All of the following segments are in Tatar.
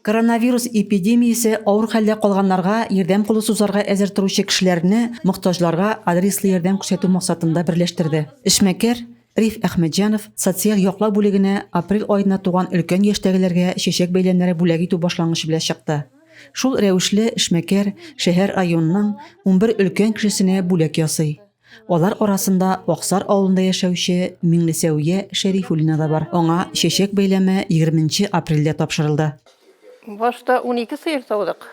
Коронавирус эпидемиясе авыр хәлдә калганнарга ярдәм кулы сузарга әзер торучы кешеләрне мохтаҗларга адреслы ярдәм күрсәтү максатында берләштерде. Эшмәкәр Риф Әхмәтҗанов социаль яклау бүлегенә апрель аена туган өлкән яшьтәгеләргә чәчәк бәйләмнәре бүләк итү башлангычы белән чыкты. Шул рәвешле эшмәкәр шәһәр районының унбер өлкән кешесенә бүләк ясый. Алар арасында Аксар авылында яшәүче Миңлесәүия Шәрифуллина да бар. Аңа чәчәк бәйләме 20 апрельдә тапшырылды. Башта 12 сыер саудык.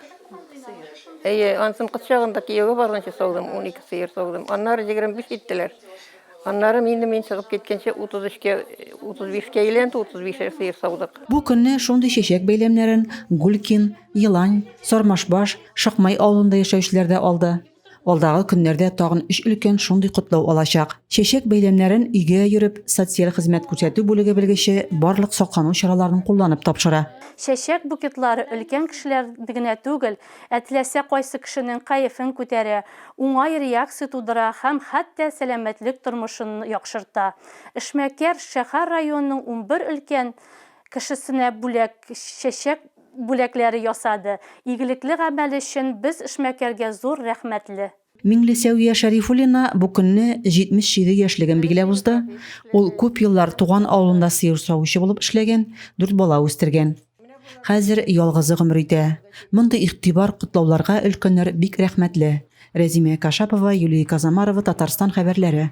Әйе, ансын кыз чагында кияүгә барганчы саудым, 12 сыер саудым. Аннары 25 киттеләр. Аннары инде мин чыгып киткәнче 33-кә, 35-кә әйләнде, 35 сыер саудык. Бу көнне шундый чәчәк бәйләмнәрен Гулькин, Елань, Сармашбаш, Шакмай авылында яшәүчеләр дә алды. Алдагы көннәрдә тагын өч өлкән шундый котлау алачак. Чәчәк бәйләмнәрен өйгә йөреп, социаль хезмәт күрсәтү бүлеге белгече барлык саклану чараларын кулланып тапшыра. Чәчәк букетлары өлкән кешеләр генә түгел, ә теләсә кайсы кешенең кәефен күтәрә, уңай реакция тудыра һәм хәтта сәламәтлек тормышын яхшырта. Эшмәкәр шәһәр районының унбер өлкән кешесенә бүләк чәчәк бүләкләре ясады. Игелекле гамәл өчен без эшмәкәргә зур рәхмәтле. Миңлесәвия Шәрифуллина бу көнне 77 яшьлеген билгеләп узды. Ул күп еллар туган авылында сыер савучы булып эшләгән, дүрт бала үстергән. Хәзер ялгызы гомер итә. Мондый игътибар, котлауларга өлкәннәр бик рәхмәтле. Рәзимә Кашапова, Юлия Казамарова, Татарстан хәбәрләре.